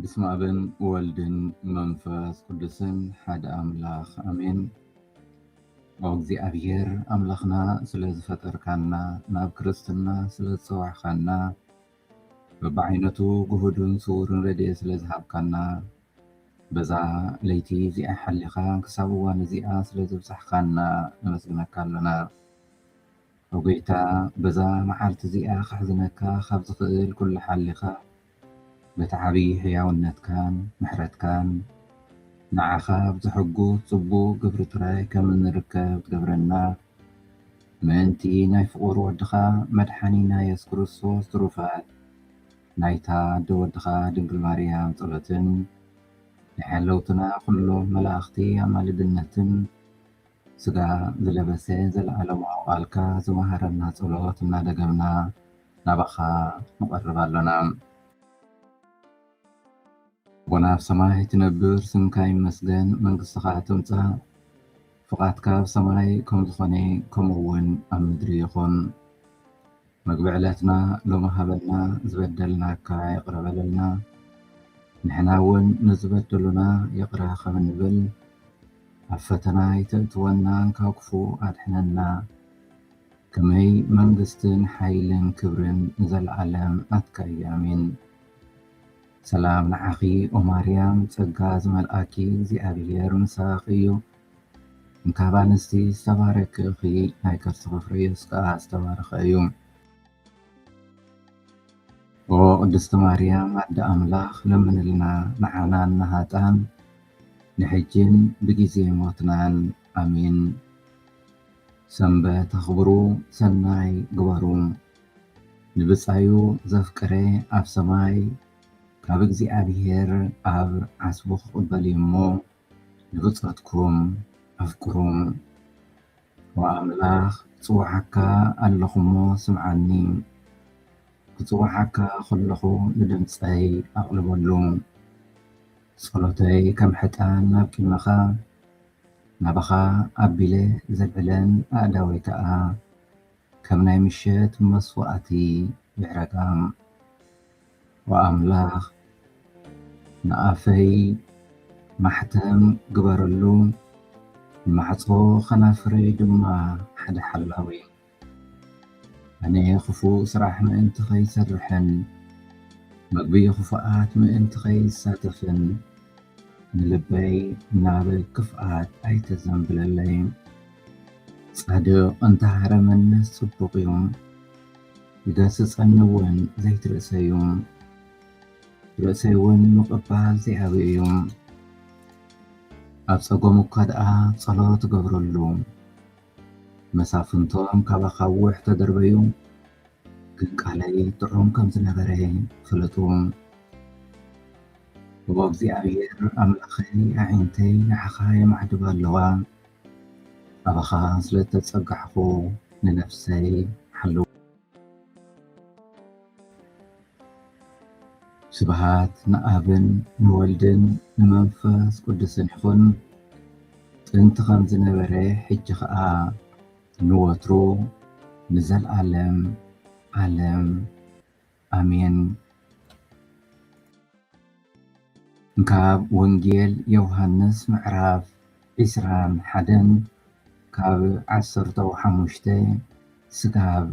ብስመ ኣብን ወልድን መንፈስ ቅዱስን ሓደ ኣምላኽ ኣሜን። እግዚኣብሔር ኣምላኽና ስለ ዝፈጠርካና ናብ ክርስትና ስለ ዝፀዋዕካና በብዓይነቱ ግሁድን ስውርን ረድኤት ስለ ዝሃብካና በዛ ለይቲ እዚኣ ሓሊኻ ክሳብ እዋን እዚኣ ስለ ዘብጻሕካና ነመስግነካ ኣሎና። ኦ ጎይታ በዛ መዓልቲ እዚኣ ከሕዝነካ ካብ ዝኽእል ኩሉ ሓሊኻ በቲ ዓቢ ሕያውነትካን ምሕረትካን ንዓኻ ኣብ ዘሐጉስ ጽቡቕ ግብሪ ጥራይ ከም እንርከብ ትገብረና ምእንቲ ናይ ፍቑር ወድኻ መድሓኒና የሱስ ክርስቶስ ትሩፋት ናይታ ኣደ ወድኻ ድንግል ማርያም ጸሎትን ናይ ሓለውትና ኩሎም መላእኽቲ ኣማልድነትን ስጋ ዝለበሰ ዘለዓለማዊ ቃልካ ዝመሃረና ጸሎት እናደገምና ናባኻ ንቐርብ ኣሎና። ኣቦና ኣብ ሰማይ ትነብር ስምካ ይመስገን መንግስትኻ ትምጻእ ፍቓድካ ኣብ ሰማይ ከም ዝኾነ ከምኡ ውን ኣብ ምድሪ ይኹን። መግቢ ዕለትና ሎሚ ሃበና ዝበደልናካ ይቕረ በለልና ንሕና እውን ንዝበደሉና ይቕረ ከም እንብል ኣብ ፈተና ኣይተእትወና ካብ ክፉ ኣድሕነና ከመይ መንግስትን ሓይልን ክብርን ንዘለኣለም ናትካ እዩ ኣሜን ሰላም ንዓኺ ኦማርያም ጸጋ ዝመልኣኪ እግዚኣብሔር ምሳኺ እዩ ካብ ኣንስቲ ዝተባረኪ እኺ ናይ ከርስኺ ፍረ የሱስ ከኣ ዝተባረኸ እዩ። ኦ ቅድስቲ ማርያም ኣደ ኣምላኽ ለምንልና ንዓናን ንሃጣን ንሕጂን ብጊዜ ሞትናን ኣሜን። ሰንበት ኣኽብሩ ሰናይ ግበሩ ንብጻዩ ዘፍቅረ ኣብ ሰማይ ካብ እግዚኣብሔር ኣብ ዓስቡ ክቕበል እዩ እሞ ንብጾትኩም ኣፍቅሩም ወኣምላኽ ይጽውዓካ ኣለኹሞ ስምዓኒ ክጽውዓካ ከለኹ ንድምጸይ ኣቕልበሉ ጸሎተይ ከም ሕጣን ናብ ቂመኻ ናባኻ ኣቢለ ዘልዕለን ኣእዳወይ ከኣ ከም ናይ ምሸት መስዋእቲ ይሕረቃም ወኣምላክ ንኣፈይ ማሕተም ግበረሉ ንማሕፆ ከናፍረይ ድማ ሓደ ሓላዊ ኣነ ክፉእ ስራሕ ምእንቲ ከይሰርሕን ምግቢ ክፉኣት ምእንቲ ከይሳተፍን ንልበይ ናብ ክፍኣት ኣይተዘንብለለይ። ጻድቕ እንተ ሃረመኒስ ጽቡቕ እዩ፣ ይገስጸኒ ውን ዘይት ርእሰይ'ዩ፣ ርእሰይ ውን ምቕባል ዘይኣብይ እዩ። ኣብ ጸገሙ እኳ ደኣ ጸሎት እገብረሉ። መሳፍንቶም ካብ ኣኻውሕ ተደርበዩ፣ ግን ቃለይ ጥዑም ከም ዝነበረ ፍለጡ። ኦ እግዚኣብሄር ኣምላኸይ፣ ኣዒንተይ ንዓኻ የማዕድባ ኣለዋ። ኣባኻ ስለ እተጸጋዕኩ ንነፍሰይ ሓልዋ። ስብሃት ንኣብን ንወልድን ንመንፈስ ቅዱስን ይኹን ጥንቲ ከም ዝነበረ ሕጂ ኸኣ ንወትሩ ንዘልኣለም ዓለም ኣሜን። ካብ ወንጌል ዮውሃንስ ምዕራፍ ዕስራን ሓደን ካብ ዓሰርተው ሓሙሽተ ስጋብ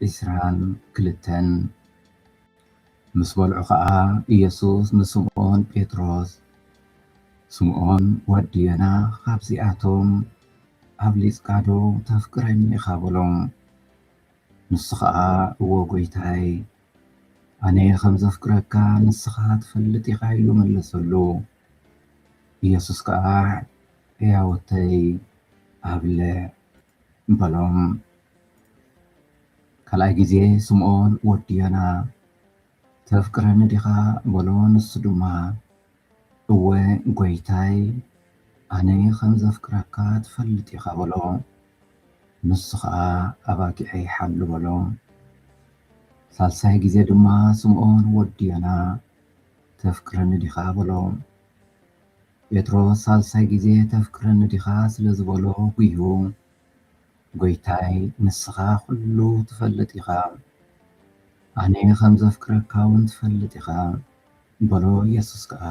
ዕስራን ክልተን ምስ በልዑ ኸኣ ኢየሱስ ንስምኦን ጴጥሮስ ስምኦን ወዲ ዮና ኻብዚኣቶም ኣብሊጽካዶ ተፍቅረኒ ኢኻ በሎ። ንሱ ኸኣ እወ ጐይታይ፣ ኣነ ኸም ዘፍቅረካ ንስኻ ትፈልጥ ኢኻ ኢሉ መለሰሉ። ኢየሱስ ከኣ ሕያዎተይ ኣብልዕ በሎም። ካልኣይ ጊዜ ስምዖን ወዲ ዮና። ተፍቅረኒ ዲኻ በሎ ንሱ ድማ እወ ጎይታይ ኣነ ከም ዘፍቅረካ ትፈልጥ ኢኻ በሎ ንሱ ኸኣ ኣባጊዐይ ሓሉ በሎ ሳልሳይ ግዜ ድማ ስምኦን ወዲ ዮና ተፍቅረኒ ዲኻ በሎ ጴጥሮስ ሳልሳይ ግዜ ተፍቅረኒ ዲኻ ስለ ዝበሎ ጉሁ ጎይታይ ንስኻ ኩሉ ትፈልጥ ኢኻ ኣነ ከም ዘፍቅረካ ውን ትፈልጥ ኢኻ በሎ የሱስ ከኣ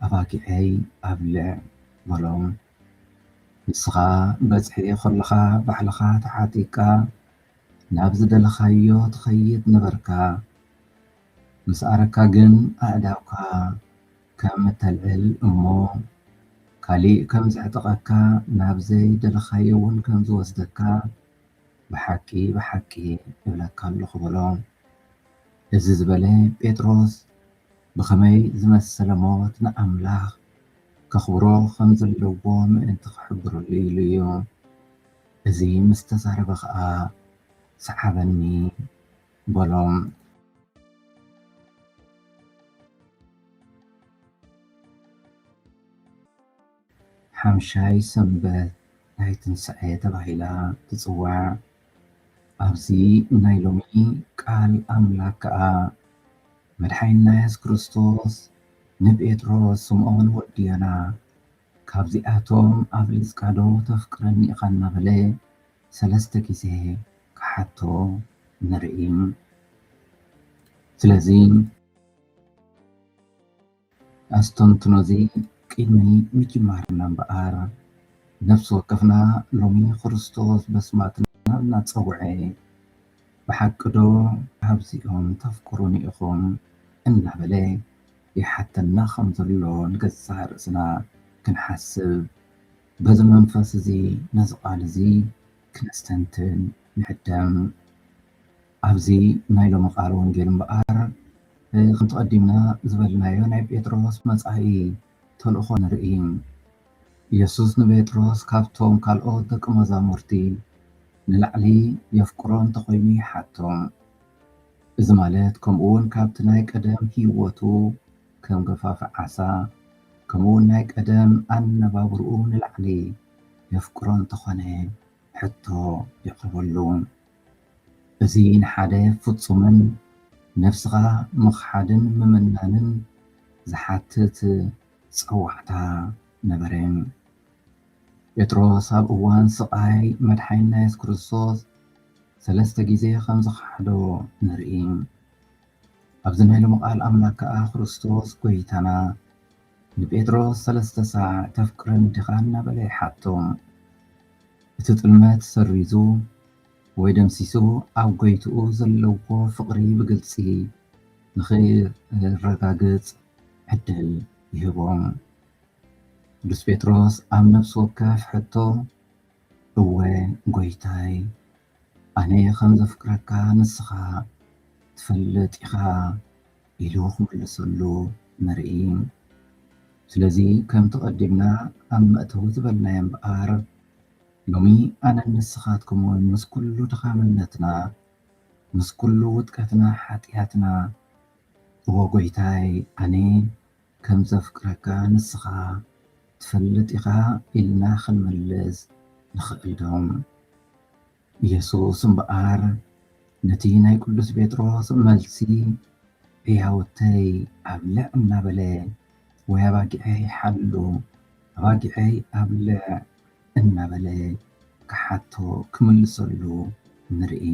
ኣባጊዐይ ኣብልዕ በሎ ንስኻ በጽሒ ከለኻ ባዕልኻ ተዓጢቅካ ናብ ዝደለኻዮ ትኸይድ ነበርካ ምስ ኣረካ ግን ኣእዳውካ ከም ተልዕል እሞ ካሊእ ከም ዘዕጥቐካ ናብ ዘይ ደለኻዮ ውን ከም ዝወስደካ ብሓቂ ብሓቂ እብለካ ኣለኹ በሎ። እዚ ዝበለ ጴጥሮስ ብኸመይ ዝመሰለ ሞት ንኣምላኽ ከኽብሮ ከም ዘለዎ ምእንቲ ክሕብረሉ ኢሉ እዩ። እዚ ምስ ተዛረበ ኸኣ ሰዓበኒ በሎም። ሓምሻይ ሰንበት ናይ ትንሳኤ ተባሂላ ትጽዋዕ። ኣብዚ ናይ ሎሚ ቃል ኣምላክ ከኣ መድሓኒና የሱስ ክርስቶስ ንጴጥሮስ ስምኦን ወዲ ዮና ካብዚኣቶም ኣብሊጽካ ዶ ተፍቅረኒ ኢኻ እናበለ ሰለስተ ግዜ ክሓቶ ንርኢ። ስለዚ ኣስተንትኖዚ ቅድሚ ምጅማርና እምበኣር ነፍሲ ወከፍና ሎሚ ክርስቶስ በስማትና እናጸውዐ ብሓቂ ዶ ካብዚኦም ተፍቅሩኒ ኢኹም እናበለ ይሓተና ከም ዘሎ ንገዛእ ርእስና ክንሓስብ፣ በዚ መንፈስ እዚ ነዚ ቃል እዚ ክነስተንትን ንዕደም። ኣብዚ ናይ ሎሚ ቃል ወንጌል እምበኣር ከምቲ ቀዲምና ዝበልናዮ ናይ ጴጥሮስ መጻኢ ተልእኾ ንርኢ። ኢየሱስ ንጴጥሮስ ካብቶም ካልኦት ደቂ መዛሙርቲ ንላዕሊ የፍቅሮ እንተኾይኑ ይሓቶ። እዚ ማለት ከምኡውን ካብቲ ናይ ቀደም ህይወቱ ከም ገፋፊ ዓሳ ከምኡውን ናይ ቀደም ኣነባብርኡ ንላዕሊ የፍቅሮ እንተኾነ ሕቶ የቕርበሉ። እዚ ንሓደ ፍጹምን ነፍስኻ ምኽሓድን ምምናንን ዝሓትት ጸዋዕታ ነበረ። ጴጥሮስ ኣብ እዋን ስቓይ መድሓኒና የሱስ ክርስቶስ ሰለስተ ግዜ ከም ዝኸሓዶ ንርኢ። ኣብዚ ናይ ሎሚ ቃል ኣምላክ ከኣ ክርስቶስ ጎይታና ንጴጥሮስ ሰለስተ ሳዕ ተፍቅረኒ ዲኻ እናበለ ይሓቶ። እቲ ጥልመት ሰሪዙ ወይ ደምሲሱ ኣብ ጎይትኡ ዘለዎ ፍቕሪ ብግልጺ ንኺረጋግጽ ዕድል ይህቦ። ቅዱስ ጴጥሮስ ኣብ ነፍሲ ወከፍ ሕቶ እወ ጐይታይ ኣነ ኸም ዘፍቅረካ ንስኻ ትፈልጥ ኢኻ ኢሉ ክምልሰሉ ንርኢ። ስለዚ ከምቲ ቀዲምና ኣብ መእተዊ ዝበልናዮ እምበኣር ሎሚ ኣነን ንስኻትኩምውን ምስ ኩሉ ድኻምነትና ምስ ኩሉ ውድቀትና ሓጢኣትና እወ ጐይታይ ኣነ ከም ዘፍቅረካ ንስኻ ትፈልጥ ኢኻ ኢልና ኽንምልስ ንኽእልዶ? የሱስ እምበኣር ነቲ ናይ ቅዱስ ጴጥሮስ መልሲ ሕያውተይ ኣብልዕ እናበለ ወይ ኣባጊዐይ ሓሉ፣ ኣባጊዐይ ኣብልዕ እናበለ ክሓቶ፣ ክምልሰሉ፣ ንርኢ።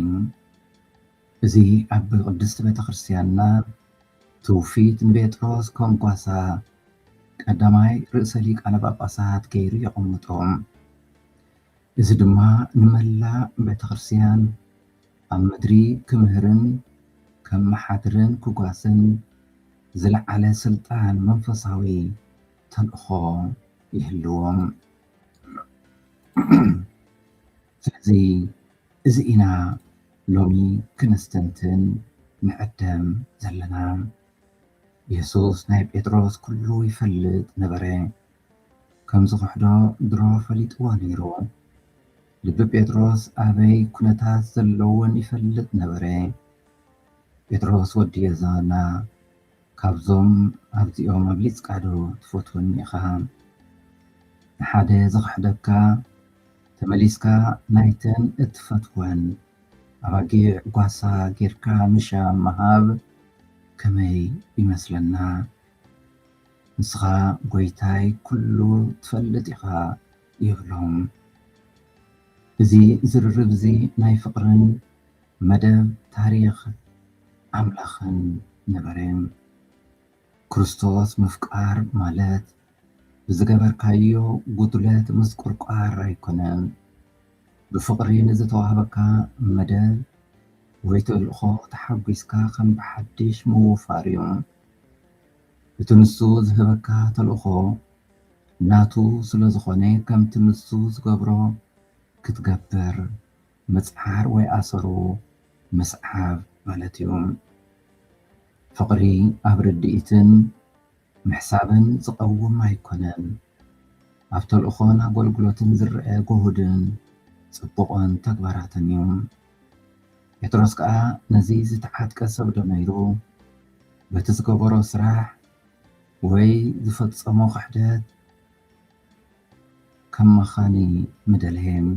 እዚ ኣብ ቅድስት ቤተክርስቲያንና ትውፊት ንቤጥሮስ ከም ጓሳ ቀዳማይ ርእሰ ሊቃነ ጳጳሳት ገይሩ የቐምጦ። እዚ ድማ ንመላእ ቤተክርስቲያን ኣብ ምድሪ ክምህርን ከመሓድርን ክጓስን ዝለዓለ ስልጣን መንፈሳዊ ተልእኾ ይህልዎ። ስለዚ እዚ ኢና ሎሚ ክነስተንትን ንዕደም ዘለና። የሱስ ናይ ጴጥሮስ ኩሉ ይፈልጥ ነበረ። ከም ዝኽሕዶ ድሮ ፈሊጥዎ ነይሩ። ልቢ ጴጥሮስ ኣበይ ኩነታት ዘለዎን ይፈልጥ ነበረ። ጴጥሮስ ወዲ የዘና ካብዞም ኣብዚኦም ኣብሊጽካ ዶ ትፈትወኒ ኢኻ ንሓደ ዝኽሕደካ ተመሊስካ ናይተን እትፈትወን ኣባጊዕ ጓሳ ጌርካ ምሻም ምሃብ ከመይ ይመስለና ንስኻ ጎይታይ ኩሉ ትፈልጥ ኢኻ ይብሎም እዚ ዝርርብ እዚ ናይ ፍቅርን መደብ ታሪኽ ኣምላኽን ንበሬም ክርስቶስ ምፍቃር ማለት ብዝገበርካዮ ጉድለት ምዝቁርቋር ኣይኮነን። ብፍቕሪ ንዝተዋህበካ መደብ ወይ ተልእኾ ተሓጒስካ ከም ብሓድሽ ምውፋር እዩ። እቲ ንሱ ዝህበካ ተልእኾ ናቱ ስለዝኾነ ከምቲ ንሱ ዝገብሮ ክትገብር ምጽዓር ወይ ኣሰሩ ምስዓብ ማለት እዩ። ፍቕሪ ኣብ ርድኢትን ምሕሳብን ዝቐውም ኣይኮነን። ኣብ ተልእኾን ኣጎልጉሎትን ዝረኣ ጎሁድን ጽቡቕን ተግባራትን እዩ። ጴጥሮስ ከኣ ነዚ ዝተዓጥቀ ሰብዶ ነይሩ? በቲ ዝገበሮ ስራሕ ወይ ዝፈጸሞ ክሕደት፣ ከማኻኒ ምደልሔም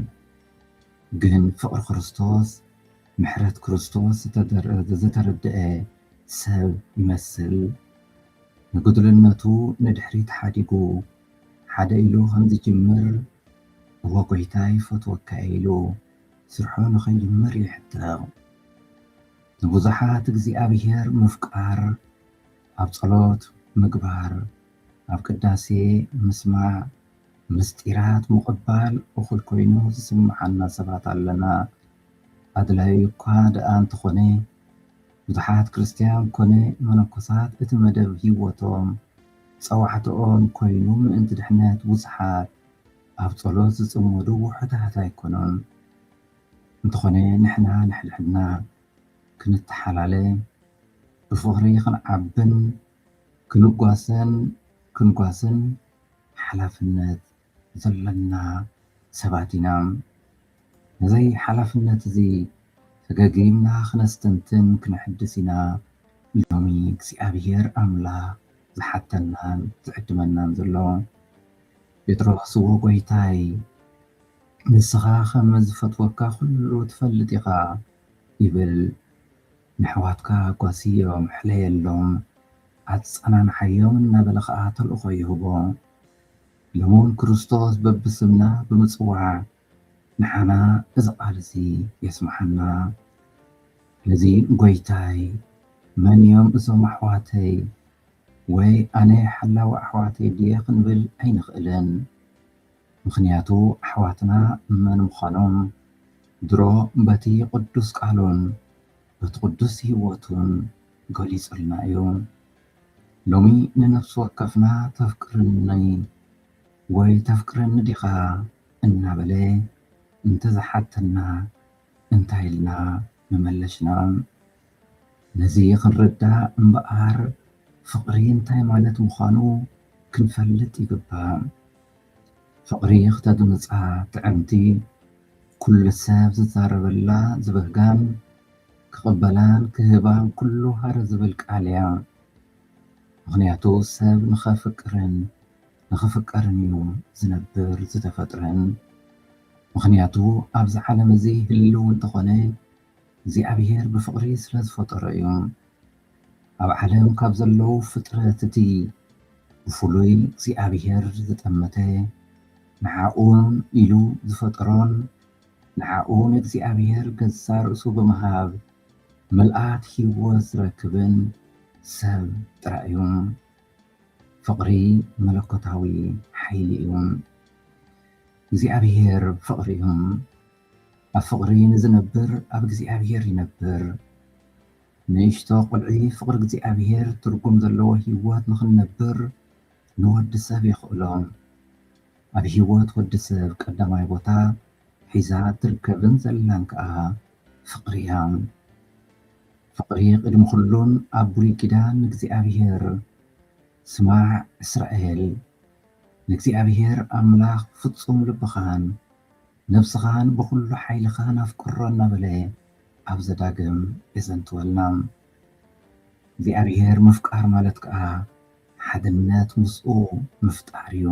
ግን ፍቅሪ ክርስቶስ ምሕረት ክርስቶስ ዝተረደኤ ሰብ ይመስል ንጉድልነቱ ንድሕሪት ሓዲጉ ሓደ ኢሉ ከምዝጅምር እወ ጎይታ ይፈትወካ ኢሉ ስርሑ ንኸይጅምር ይሕተቕ ንብዙሓት እግዚኣብሔር ምፍቃር ኣብ ጸሎት ምግባር ኣብ ቅዳሴ ምስማዕ፣ ምስጢራት ምቕባል እኹል ኮይኑ ዝስምዓና ሰባት ኣለና። ኣድላዩ እኳ ደኣ እንተኾነ፣ ብዙሓት ክርስትያን ኮነ መነኮሳት እቲ መደብ ህይወቶም፣ ጸዋዕታኦም፣ ኮይኑ ምእንቲ ድሕነት ብዙሓት ኣብ ጸሎት ዝጽመዱ ውሑዳት ኣይኮኑን። እንተኾነ ንሕና ንሕድሕድና ክንተሓላለ፣ ብፍቕሪ ክንዓብን፣ ክንጓሰን ክንጓስን ሓላፍነት ዘሎና ሰባት ኢና። ነዚ ሓላፍነት እዚ ፈገግ ኢልና ክነስተንትን ክነሐድስ ኢና ሎሚ እግዚኣብሔር ኣምላኽ ዝሓተናን ዝዕድመናን ዘሎ። ጴጥሮስዎ ጐይታይ ንስኻ ከም ዝፈትወካ ዅሉ ትፈልጥ ኢኻ ይብል። ነሕዋትካ ጓስዮም ሕለየሎም ኣጸናንዓዮም እናበለ ኸኣ ተልእኾ ይህቦ። ሎሚውን ክርስቶስ በብስምና ብምጽዋዕ ንዓና እዚ ቃል እዚ የስምዓና። ስለዚ ጐይታይ መን እዮም እዞም ኣሕዋተይ ወይ ኣነ ሓላዊ ኣሕዋተይ ድየ ክንብል ኣይንኽእልን። ምኽንያቱ ኣሕዋትና መን ምዃኖም ድሮ በቲ ቕዱስ ቃሉን በቲ ቕዱስ ህይወቱን ገሊጹልና እዩ። ሎሚ ንነፍሲ ወከፍና ተፍቅርኒ ወይ ተፍቅረኒ ዲኻ? እናበለ እንተ ዝሓተና፣ እንታይ ኢልና ምመለሽና ነዚ ክንርዳእ እምበኣር ፍቕሪ እንታይ ማለት ምዃኑ ክንፈልጥ ይግባእ። ፍቕሪ ክተግምጻ ትዕምቲ ኩሉ ሰብ ዝዛረበላ ዝበህጋን ክቕበላን ክህባን ኩሉ ሃረ ዝብል ቃል እያ። ምኽንያቱ ሰብ ንኸፍቅርን ንኽፍቀርን እዩ ዝነብር ዝተፈጥረን ምኽንያቱ ኣብዚ ዓለም እዚ ህልው እንተኾነ እግዚኣብሔር ብፍቕሪ ስለ ዝፈጠሮ እዩ ኣብ ዓለም ካብ ዘለዉ ፍጥረት እቲ ብፍሉይ እግዚኣብሔር ዝጠመተ ንዓኡን ኢሉ ዝፈጠሮን ንዓኡ ንእግዚኣብሔር ገዛ ርእሱ ብምሃብ ምልኣት ህይወት ዝረክብን ሰብ ጥራይ እዩ ፍቕሪ መለኮታዊ ሓይሊ እዩ። እግዚኣብሄር ፍቕሪ እዩ። ኣብ ፍቕሪ ንዝነብር ኣብ እግዚኣብሄር ይነብር። ንእሽቶ ቁልዒ ፍቕሪ እግዚኣብሄር ትርጉም ዘለዎ ህይወት ንኽንነብር ንወዲ ሰብ የኽእሎ። ኣብ ህይወት ወዲ ሰብ ቀዳማይ ቦታ ሒዛ እትርከብን ዘላን ከኣ ፍቅሪ እያ ፍቅሪ ቅድሚ ኩሉን ኣብ ብሉይ ኪዳን ንእግዚኣብሔር ስማዕ እስራኤል ንእግዚኣብሔር ኣምላኽ ፍጹም ልብኻን ነብስኻን ብኹሉ ሓይልኻን ኣፍቅሮ እናበለ ኣብ ዘዳግም የዘንትወልና እግዚኣብሔር ምፍቃር ማለት ከኣ ሓድነት ምስኡ ምፍጣር እዩ።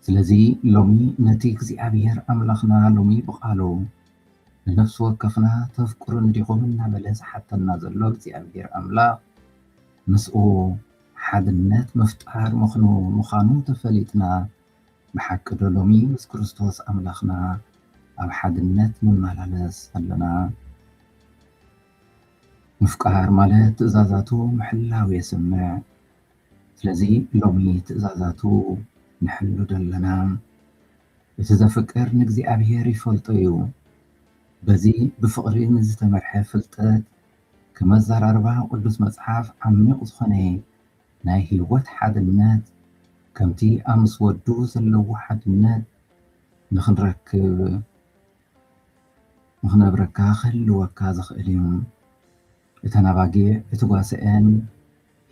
ስለዚ ሎሚ ነቲ እግዚኣብሄር ኣምላኽና ሎሚ ብቓሉ ንነፍሲ ወከፍና ተፍቅሩኒ ዲኹም እናበለ ዝሓተና ዘሎ እግዚኣብሄር ኣምላኽ ምስኡ ሓድነት ምፍጣር ምኽኑ ምዃኑ ተፈሊጥና ብሓቂ ዶ ሎሚ ምስ ክርስቶስ ኣምላኽና ኣብ ሓድነት ንመላለስ ኣለና? ምፍቃር ማለት ትእዛዛቱ ምሕላው የስምዕ። ስለዚ ሎሚ ትእዛዛቱ ንሕሉ ዶ ኣለና? እቲ ዘፍቅር ንእግዚኣብሔር ይፈልጦ እዩ። በዚ ብፍቕሪ ንዝተመርሐ ፍልጠት ከም ኣዘራርባ ቅዱስ መጽሓፍ ዓሚቕ ዝኾነ ናይ ሕይወት ሓድነት ከምቲ ኣብ ምስ ወዱ ዘለዎ ሓድነት ንኽንረክብ ንኽነብረካ ክህልወካ ዝኽእል እዩ። እተን ኣባጊዕ እቲ ጓሰኤን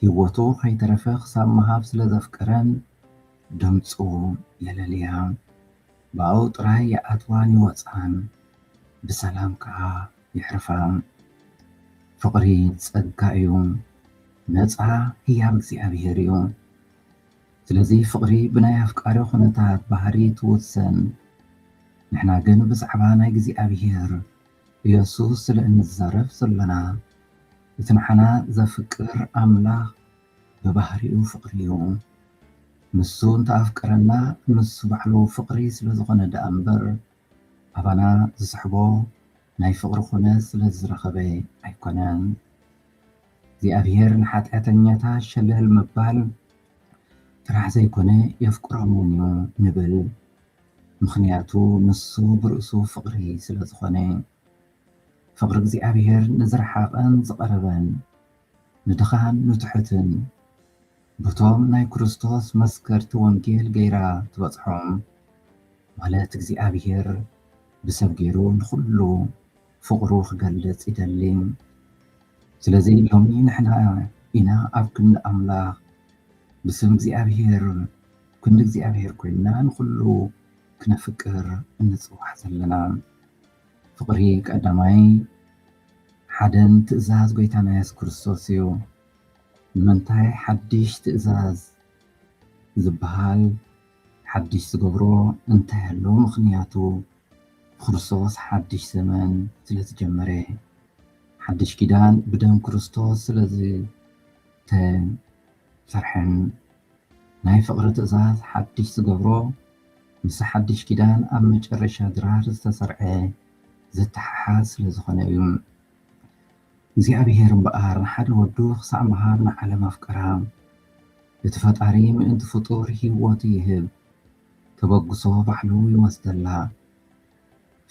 ሂወቱ ከይተረፈ ክሳብ ምሃብ ስለ ዘፍቀረን ድምጹ የለልያ ብኣኡ ጥራይ ይኣትዋን ይወጻን ብሰላም ከኣ የሕርፋ። ፍቅሪ ጸጋ እዩ ነጻ ህያብ እግዚኣብሄር እዩ ስለዚ ፍቅሪ ብናይ ኣፍቃሪ ኩነታት ባህሪ ትውሰን ንሕና ግን ብዛዕባ ናይ እግዚኣብሄር ኢየሱስ ስለ እንዛረብ ዘሎና እቲ ንዓና ዘፍቅር ኣምላኽ ብባህሪኡ ፍቅሪ እዩ። ንሱ እንተ ኣፍቀረና ንሱ ባዕሉ ፍቅሪ ስለ ዝኾነ ደኣ እምበር ኣባና ዝስሕቦ ናይ ፍቅሪ ኩነት ስለ ዝረኸበ ኣይኮነን። እግዚኣብሔር ንሓጢኣተኛታት ሸለል ምባል ጥራሕ ዘይኮነ የፍቅሮም እውን እዩ ንብል። ምኽንያቱ ንሱ ብርእሱ ፍቕሪ ስለ ዝኾነ። ፍቕሪ እግዚኣብሔር ንዝረሓቐን ዝቐረበን፣ ንድኻን ንትሑትን፣ በቶም ናይ ክርስቶስ መስከርቲ ወንጌል ገይራ ትበጽሖም። ማለት እግዚኣብሔር ብሰብ ገይሩ ንኹሉ ፍቕሩ ክገልጽ ይደሊ። ስለዚ ሎሚ ንሕና ኢና ኣብ ክንዲ ኣምላኽ ብስም እግዚኣብሔር ክንዲ እግዚኣብሔር ኮይንና ንኹሉ ክነፍቅር እንጽዋዕ ዘለና። ፍቕሪ ቀዳማይ ሓደን ትእዛዝ ጎይታና የሱስ ክርስቶስ እዩ። ንምንታይ ሓድሽ ትእዛዝ ዝበሃል ሓድሽ ዝገብሮ እንታይ ኣሎ? ምኽንያቱ ብክርስቶስ ሓድሽ ዘመን ስለ ዝጀመረ፣ ሓድሽ ኪዳን ብደም ክርስቶስ ስለ ዝተሓጽበ ፍርሕን ናይ ፍቕሪ ትእዛዝ ሓድሽ ዝገብሮ ምስ ሓድሽ ኪዳን ኣብ መጨረሻ ድራር ዝተሰርዐ ዝተሓሓዝ ስለ ዝኾነ እዩ። እግዚኣብሔር እምበኣር ንሓደ ወዱ ክሳዕ ምሃብ ንዓለም ኣፍቀራ። እቲ ፈጣሪ ምእንቲ ፍጡር ሕይወቱ ይህብ ተበግሶ ባዕሉ ይወስደላ።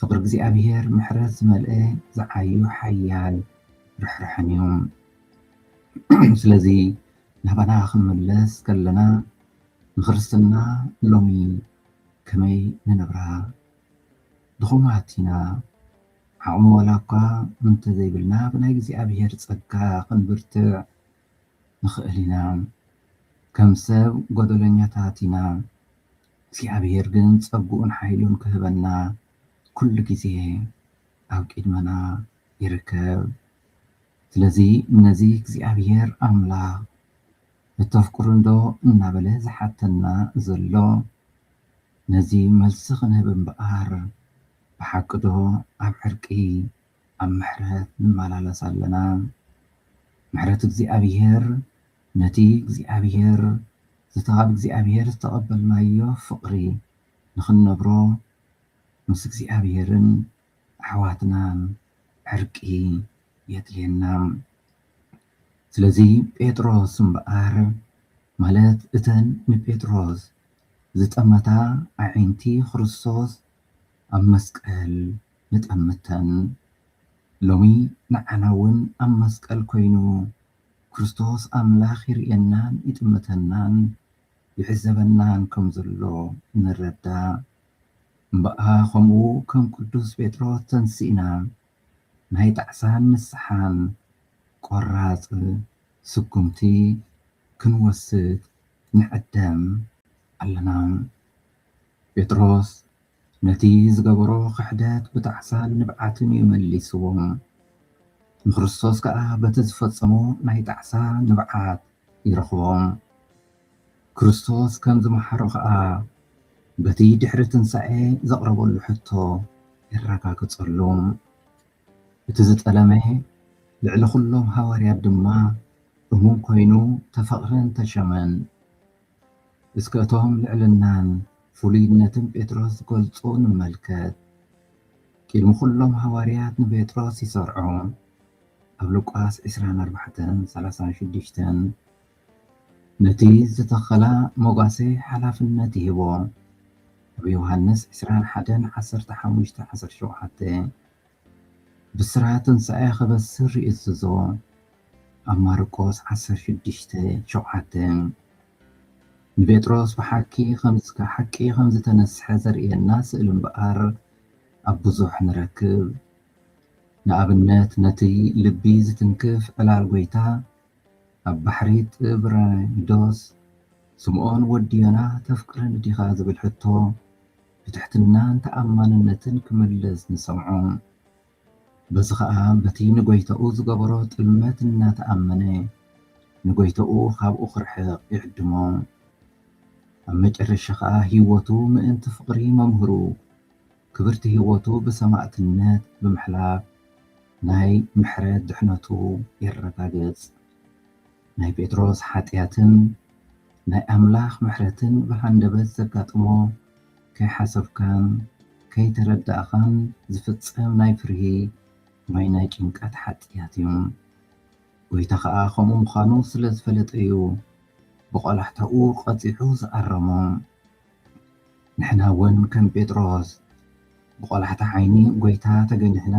ፍቅሪ እግዚኣብሔር ምሕረት ዝመልአ ዝዓዩ ሓያል ርሕራሕን እዩ ስለዚ ናባና ክንምለስ ከለና ንክርስትና ሎሚ ከመይ ንነብራ ድኹማት ኢና ዓቕሚ ዋላ እኳ እንተዘይብልና ብናይ እግዚኣብሔር ጸጋ ክንብርትዕ ንኽእል ኢና ከም ሰብ ጎደለኛታት ኢና እግዚኣብሔር ግን ጸግኡን ሓይሉን ክህበና ኩሉ ግዜ ኣብ ቂድመና ይርከብ ስለዚ ነዚ እግዚኣብሔር ኣምላክ እተፍቅሩንዶ እናበለ ዝሓተና ዘሎ ነዚ መልሲ ክንህብ እምበኣር ብሓቂዶ ኣብ ዕርቂ ኣብ ምሕረት ንመላለስ ኣለና ምሕረት እግዚኣብሔር ነቲ እግዚኣብሄር ዝተኻብ እግዚኣብሄር ዝተቐበልናዮ ፍቕሪ ንኽንነብሮ ምስ እግዚኣብሄርን ኣሕዋትናን ዕርቂ የድልየና። ስለዚ ጴጥሮስ እምበኣር ማለት እተን ንጴጥሮስ ዝጠመታ ኣዒንቲ ክርስቶስ ኣብ መስቀል ንጠምተን ሎሚ ንዓናውን ኣብ መስቀል ኮይኑ ክርስቶስ ኣምላኽ ይርእየናን ይጥምተናን ይዕዘበናን ከም ዘሎ ንረዳእ እምበኣ ከምኡ ከም ቅዱስ ጴጥሮስ ተንሲእና ናይ ጣዕሳን ንስሓን ቆራጽ ስጉምቲ ክንወስድ ንዕደም ኣለና። ጴጥሮስ ነቲ ዝገበሮ ክሕደት ብጣዕሳን ንብዓትን እዩ መሊስዎ። ንክርስቶስ ከኣ በቲ ዝፈጸሞ ናይ ጣዕሳ ንብዓት ይረኽቦ። ክርስቶስ ከም ዝመሓሮ ከኣ በቲ ድሕሪ ትንሳኤ ዘቕረበሉ ሕቶ የረጋግጸሉ። እቲ ዝጠለመ ልዕሊ ኩሎም ሃዋርያት ድማ እሙን ኮይኑ ተፈቕረን ተሸመን። እስከ እቶም ልዕልናን ፍሉይነትን ጴጥሮስ ዝገልጹ ንመልከት። ቅድሚ ኩሎም ሃዋርያት ንጴጥሮስ ይሰርዖ። ኣብ ሉቃስ ዕስራን ኣርባዕተን ሰላሳን ሽዱሽተን ነቲ ዝተኸላ መጓሰ ሓላፍነት ይህቦ። ኣብ ዮሃንስ ዕስራን ሓደን ዓሰርተ ሓሙሽተ ዓሰርተ ሸውዓተ ብስራት ትንሣኤ ከበስር ይእዝዞ ኣብ ማርቆስ ዓሰርተ ሽዱሽተ ሸውዓተ ንጴጥሮስ ብሓኪ ከምዝከ ሓቂ ከምዝተነስሐ ዘርእየና ስእሊ እምበኣር ኣብ ብዙሕ ንረክብ ንኣብነት ነቲ ልቢ ዝትንክፍ ዕላል ጐይታ ኣብ ባሕሪ ጥብራይዶስ ስምዖን ወዲ ዮና ተፍቅረኒ ዲኻ ዝብል ሕቶ ብትሕትናን ተኣማንነትን ክምልስ ንሰምዖ። በዚ ኸኣ በቲ ንጐይታኡ ዝገበሮ ጥልመት እናተኣመነ ንጐይታኡ ኻብኡ ኺርሕቕ ይዕድሞ። ኣብ መጨረሻ ኸኣ ህይወቱ ምእንቲ ፍቕሪ መምህሩ፣ ክብርቲ ህይወቱ ብሰማእትነት ብምሕላፍ ናይ ምሕረት ድሕነቱ የረጋግጽ። ናይ ጴጥሮስ ሓጢኣትን ናይ ኣምላኽ ምሕረትን ብሃንደበት ዘጋጥሞ ከይሓሰብካን ከይተረዳእኻን ዝፍጸም ናይ ፍርሂ ወይ ናይ ጭንቀት ሓጥያት እዩ። ጎይታ ኸኣ ከምኡ ምዃኑ ስለ ዝፈለጠ እዩ ብቆላሕታኡ ቀጺዑ ዝኣረሞ። ንሕና እውን ከም ጴጥሮስ ብቆላሕታ ዓይኒ ጎይታ ተገኒሕና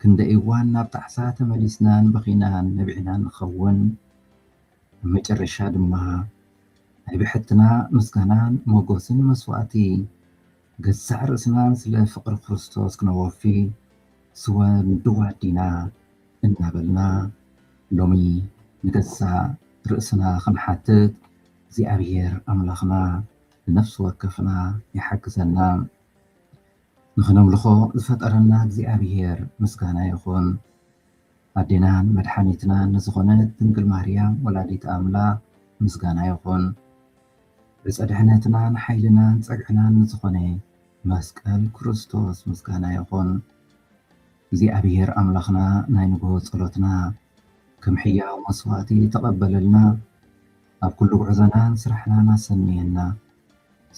ክንደይ እዋን ናብ ጣዕሳ ተመሊስናን በኺናን ነቢዕናን ንኸውን። ብመጨረሻ ድማ ናይ ብሕትና ምስጋናን ሞጎስን መስዋእቲ ገዛእ ርእስናን ስለ ፍቅሪ ክርስቶስ ክነወፊ ስወ ንድው ኣዲና እናበልና ሎሚ ንገዛእ ርእስና ክንሓትት እግዚኣብሔር ኣምላኽና ንነፍሲ ወከፍና ይሓግዘና። ንክነምልኾ ዝፈጠረና እግዚኣብሔር ምስጋና ይኹን። ኣዴናን መድሓኒትናን ንዝኾነት ድንግል ማርያም ወላዲት ኣምላኽ ምስጋና ይኹን። ዕፀ ድሕነትናን ሓይልናን ፀግዕናን ንዝኾነ መስቀል ክርስቶስ ምስጋና ይኹን። እግዚኣብሔር ኣምላኽና ናይ ንግሆ ጸሎትና ከም ሕያው መስዋእቲ ተቐበለልና፣ ኣብ ኩሉ ጉዕዞናን ስራሕናን ኣሰንየና፣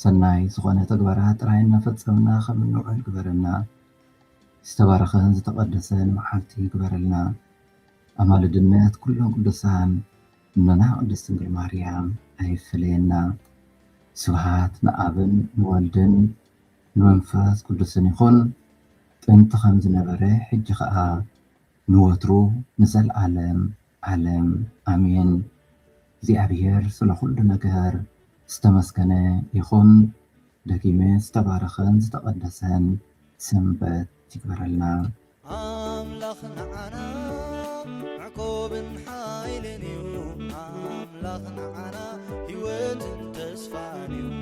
ሰናይ ዝኾነ ተግባራት ጥራይ እናፈጸምና ከም እንውዕል ግበረና፣ ዝተባረኸን ዝተቐደሰን መዓልቲ ግበረልና፣ ኣማልድነት ኩሎም ቅዱሳን እኖና ቅድስት ድንግል ማርያም ኣይፈለየና። ስብሃት ንኣብን ንወልድን ንመንፈስ ቅዱስን ይኹን፣ ጥንቲ ከም ዝነበረ ሕጂ ከኣ ንወትሩ ንዘልኣለም ኣለም ኣሜን እግዚኣብሔር ስለ ኩሉ ነገር ዝተመስገነ ይኩን ደጊመ ዝተባረከን ዝተቀደሰን ሰንበት ይግበረልና። ኣምላኽ ንዓና መዕቆብን ሓይልን እዩ ኣምላኽ ንዓና ህይወትን ተስፋን እዩ።